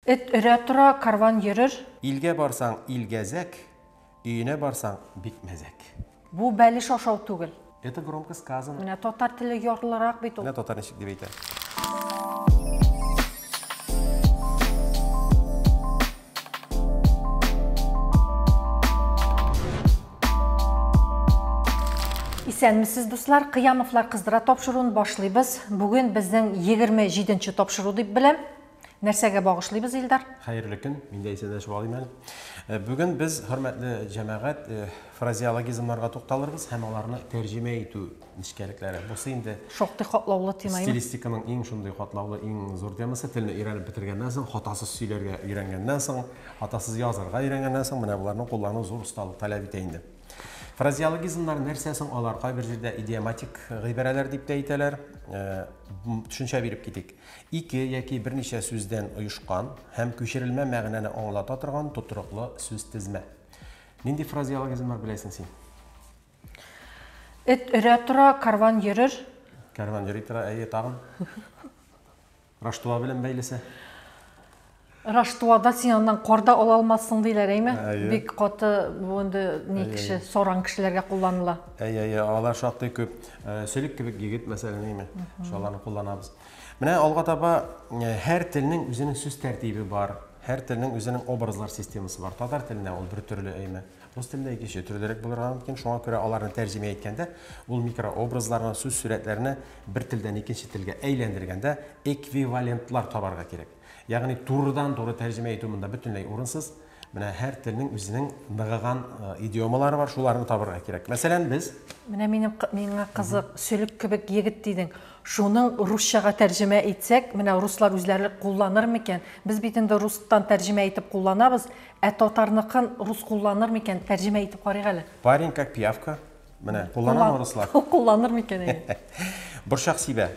Эт өрә тора, карван йөрер. Илгә барсаң, ил гәзәк. Өенә барсаң, бик мәзәк. Бу бәлеш ашау түгел. Это громко сказано. Менә татар теле ярлырак бит ул. Менә татар ничек дип әйтә. Исәнмесез, дуслар! Кыямовлар кыздыра тапшыруын башлыйбыз. Бүген безнең егерме җиденче тапшыру дип беләм. Нәрсәгә багышлыйбыз, Илдар? Хәерле көн, мин дә исәнләшеп алыйм әле. Э, бүген без, хөрмәтле җәмәгать, э, фразеологизмнарга тукталырбыз һәм аларны тәрҗемә итү нечкәлекләре. Бусы инде шактый катлаулы тема. Стилистиканың иң шундый катлаулы, иң зур темасы. Телне өйрәнеп бетергәннән соң, хатасыз сөйләргә өйрәнгәннән соң, хатасыз язарга өйрәнгәннән соң, менә боларны куллану зур осталык таләп итә инде. Фразеологизмнар нәрсә соң алар? Кайбер җирдә идиоматик гыйбарәләр дип тә әйтәләр. Э, төшенчә биреп китик. Ике яки берничә сүздән оешкан һәм күчерелмә мәгънәне аңлата торган тотрыклы сүзтезмә. Нинди фразеологизм бар беләсең син? Эт өрә тора, карван йөрер. Карван йөри тора, әйе, тагын. Раштуа белән бәйлесе. Раштуада син аннан кар да ала алмассың диләр, әйме? Бик каты бу инде ни кеше, саран кешеләргә кулланыла. Әйе, әйе, алар шактый күп. Сөлек кебек егет, мәсәлән, әйме? Шуларны кулланабыз. Менә алга таба һәр телнең үзенең сүз тәртибе бар, һәр телнең үзенең образлар системасы бар. Татар телендә ул бер төрле, әйме? Рус телендә икенче төрлерәк булырга мөмкин. Шуңа күрә аларны тәрҗемә иткәндә, ул микрообразларны, сүз сурәтләрне бер телдән икенче телгә әйләндергәндә эквивалентлар табарга кирәк. Ягъни турыдан-туры тәрҗемә итү монда бөтенләй урынсыз. Менә һәр телнең үзенең ныгыган идиомалары бар, шуларны табырга кирәк. Мәсәлән, без. Менә минем, миңа кызык, сөлек кебек егет дидең. Шуның русчага тәрҗемә итсәк, менә руслар үзләре кулланыр микән? Без бит инде рустан тәрҗемә итеп кулланабыз, ә татарныкын рус кулланыр микән? Тәрҗемә итеп карыйк әле. Парень как пиявка. Менә, кулланамы руслар? Кулланыр микән инде? Борчак сибә.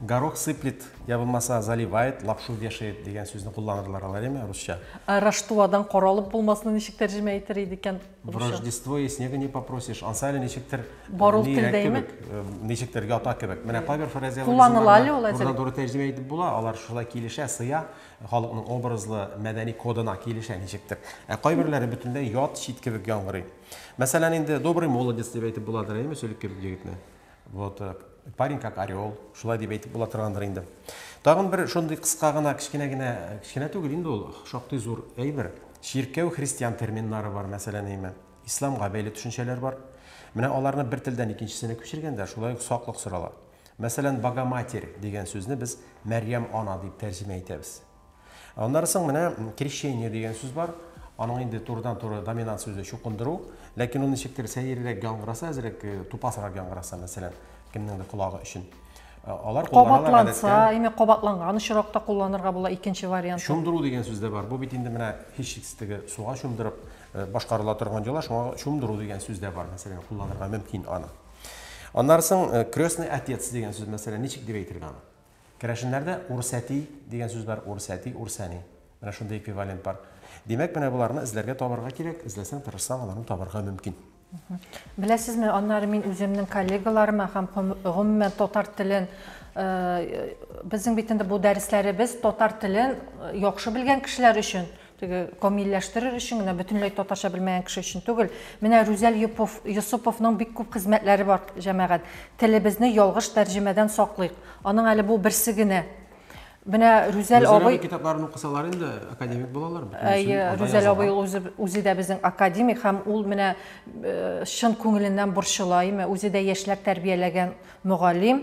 Горох сыплет, я булмаса заливает, лапшу вешает дигән сүзне кулланырлар алар, яме, русча. Ә Раштуадан каралып булмасны ничек тәрҗемә итер иде икән? В Рождество и снега не попросишь. Ансы әле ничектер Бару телдәйме? Э, ничектер ята кебек. Менә кайбер фразеологизмнар. Кулланыла әле ул әзер. Туры тәрҗемә итеп була, алар шулай килешә, сыя, халыкның образлы мәдәни кодына килешә ничектер. Ә кайберләре бөтенләй ят, чит кебек яңгырый. Мәсәлән, инде добрый молодец дип әйтеп буладыр, әйме, сөлекке егетне? Вот, э, парень как орел, шулай дип әйтеп була торгандыр инде. Тагын бер шундый кыска гына, кечкенә генә, кечкенә түгел инде ул, шактый зур әйбер. Чиркәү христиан терминнары бар, мәсәлән, әйме. Исламга бәйле төшенчәләр бар. Менә аларны бер телдән икенчесенә күчергәндә, шулай ук саклык сорала. Мәсәлән, Богоматерь дигән сүзне без Мәрьям ана дип тәрҗемә итәбез. Аннары соң менә крещение дигән сүз бар. Аның инде турыдан-туры доминант сүзе чукындыру. Ләкин ул ничектер сәеррәк яңгыраса, әзрәк э, тупасрак яңгыраса, мәсәлән, кемнеңдер колагы өчен. Э, алар кабатланса, әйме кабатланган очракта кулланырга була икенче вариант. Чумдыру дигән сүз дә бар. Бу бит инде менә һичшиксездеге суга чумдырып э, башкарыла торган йола, шуңа чумдыру дигән сүз дә бар, мәсәлән, кулланырга мөмкин аны. Аннары соң крестный отец дигән сүз, мәсәлән, ничек дип әйтергә аны? Керәшеннәрдә урсәти дигән сүз бар, урсәти, урсәни. Менә шундый эквивалент бар. Димәк, менә боларны эзләргә табарга кирәк, эзләсәң, тырышсаң, аларны табарга мөмкин. Беләсезме, аннары мин үземнең коллегаларыма һәм гомумән татар телен э, безнең бит инде бу дәресләребез татар телен э, яхшы белгән кешеләр өчен Теге камилләштерер өчен генә, бөтенләй татарча белмәгән кеше өчен түгел. Менә Рүзәл Юпов, Йосыповның бик күп хезмәтләре бар, җәмәгать. Телебезне ялгыш тәрҗемәдән саклыйк. Аның әле бу берсе генә. Менә Рүзәл Рүзәл абый абый китапларын укысалар инде, академик булалар бөтенесен. Әйе, анда Рүзәл язылган. абый ул үзе, үзе дә безнең академик һәм ул менә э, чын күңеленнән борчыла, име, үзе дә яшьләр тәрбияләгән мөгаллим.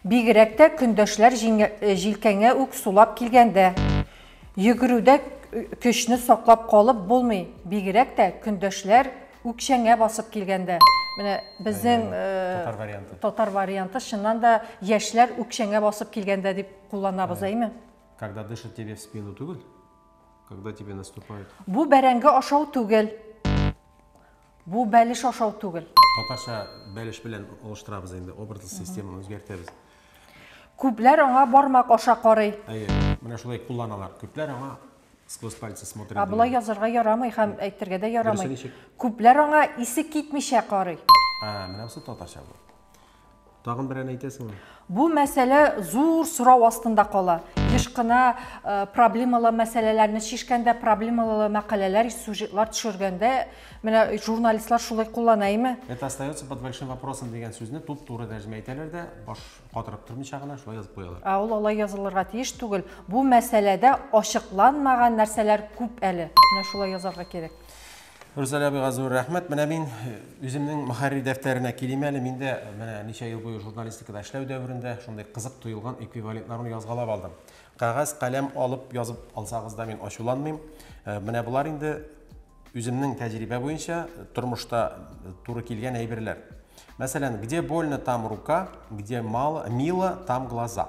Бигрәк тә көндәшләр җилкәңә үк сулап килгәндә. Йөгерүдә көчне саклап калып булмый, бигрәк тә көндәшләр үкчәңә басып килгәндә. Менә безнең татар варианты, чыннан да яшьләр үкчәңә басып килгәндә дип кулланабыз, әйме? Когда дышат тебе в спину түгел, когда тебе наступают. Бу бәрәңге ашау түгел. Бу бәлеш ашау түгел. Татарча бәлеш белән алыштырабыз инде, образлы системаны үзгәртәбез. Күпләр аңа бармак аша карый. Әйе, менә шулай кулланалар. Күпләр аңа сквозь пальцы смотрят. Ә болай язарга ярамый һәм әйтергә дә ярамый. Күпләр аңа исе китмичә карый. Ә, менә бусы татарча бу. Тагын берән әйтәсеңме? Бу мәсьәлә зур сорау астында кала. Еш кына э, проблемалы мәсьәләләрне чишкәндә, проблемалы мәкаләләр, сюжетлар төшергәндә менә журналистлар шулай куллана име? Это остается под большим вопросом дигән сүзне туп-туры тәрҗемә итәләр дә, баш катырып тормыйча гына шулай язып куялар. Ә ул алай язылырга тиеш түгел. Бу мәсьәләдә ачыкланмаган нәрсәләр күп әле. Менә шулай язарга кирәк. Рүзәлә абыйга зур рәхмәт. Менә мин э, үземнең мөхәррир дәфтәренә килим әле. Мин дә менә ничә ел буе журналистикада эшләү дәверендә шундый кызык тоелган эквивалентларны язгалап алдым. Кәгазь, каләм алып язып алсагыз да мин ачуланмыйм. Э, менә болар инде үземнең тәҗрибә буенча э, тормышта туры килгән әйберләр. Мәсәлән, где больно, там рука, где мало, мило, там глаза.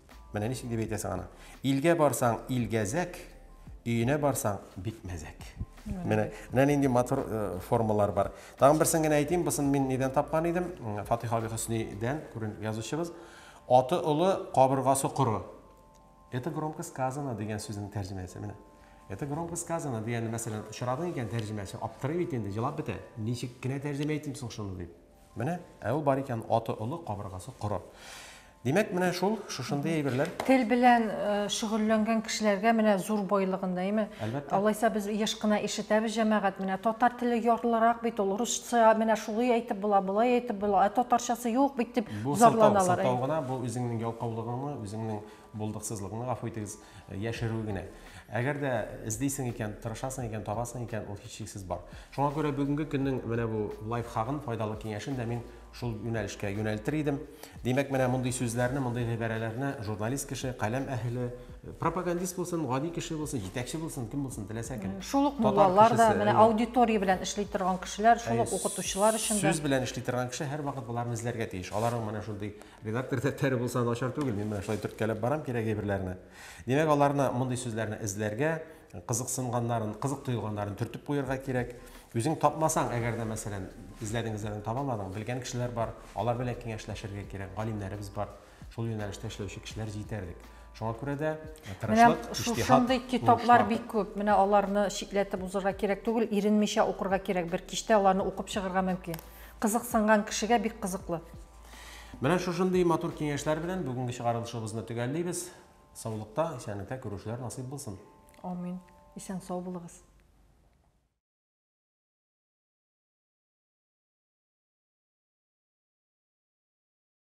Менә ничек дип әйтәсең аны. Илгә барсаң, илгәзәк, өенә барсаң, бик мәзәк. Менә менә нинди матур э, формалар бар. Тагын берсен генә әйтим, бусын мин нидән тапкан идем? Фатих Аби Хөснидән, күрен язучыбыз. Аты олы, кабыргасы коры. Это громко сказано дигән сүзнең тәрҗемәсе менә. Это громко сказано дигән мәсәлән, очрадың икән тәрҗемәсе, аптырый бит инде, җылап бетә. Ничек кенә тәрҗемә итим соң шуны дип. Менә, ә ул бар икән, аты олы, кабыргасы коры. Димәк, менә шул, шушындый әйберләр. Тел белән э, шөгыльләнгән кешеләргә менә зур байлыгын, әйме? Әлбәттә. Алайса без еш кына ишетәбез җәмәгать, менә татар теле ярлырак бит ул, русча менә шулай әйтеп була, болай әйтеп була, ә татарчасы юк бит дип зарланалар. Бу сылтау гына, бу үзеңнең ялкаулыгыңны, үзеңнең Булдыксызлыкны, гафу итегез, яшерү генә. Әгәр дә эзлисең икән, тырышасың икән, табасың икән, ул һичшиксез бар. Шуңа күрә бүгенге көннең менә бу лайфхагын, файдалы киңәшен дә мин шул юнәлешкә юнәлтер идем. Димәк, менә мондый сүзләрне, мондый гыйбарәләрне журналист кеше, каләм әһеле, пропагандист булсын, гади кеше булсын, җитәкче булсын, кем булсын, теләсә кем. Шул ук муллалар да, менә аудитория белән эшли торган кешеләр, шул ук укытучылар өчен дә. Сүз белән эшли торган кеше һәрвакыт боларны эзләргә тиеш. Аларның менә шундый Редактор дәфтәре булса начар түгел, мин менә шулай төрткәләп барам кирәк әйберләрне. Димәк, аларны мондый сүзләрне эзләргә, кызыксынганнарын, кызык тоелганнарын төртеп куярга кирәк. Үзең тапмасаң, әгәр дә, мәсәлән, эзләдең, эзләдең, табамадың, белгән кешеләр бар, алар белән киңәшләшергә кирәк, галимнәребез бар, шул юнәлештә эшләүче кешеләр җитәрлек. Шуңа күрә дә э, тырышлык, иҗтиһад. Шушындый китаплар бик күп. Менә аларны читләтеп узырга кирәк түгел, иренмичә укырга кирәк. Бер кичтә аларны укып чыгарга мөмкин. Кызыксынган кешегә бик кызыклы. Менә шушындый матур киңәшләр белән бүгенге чыгарылышыбызны төгәллибез. Саулыкта, исәнлектә күрүшләр насыйп булсын. Амин. Исән сау булыгыз.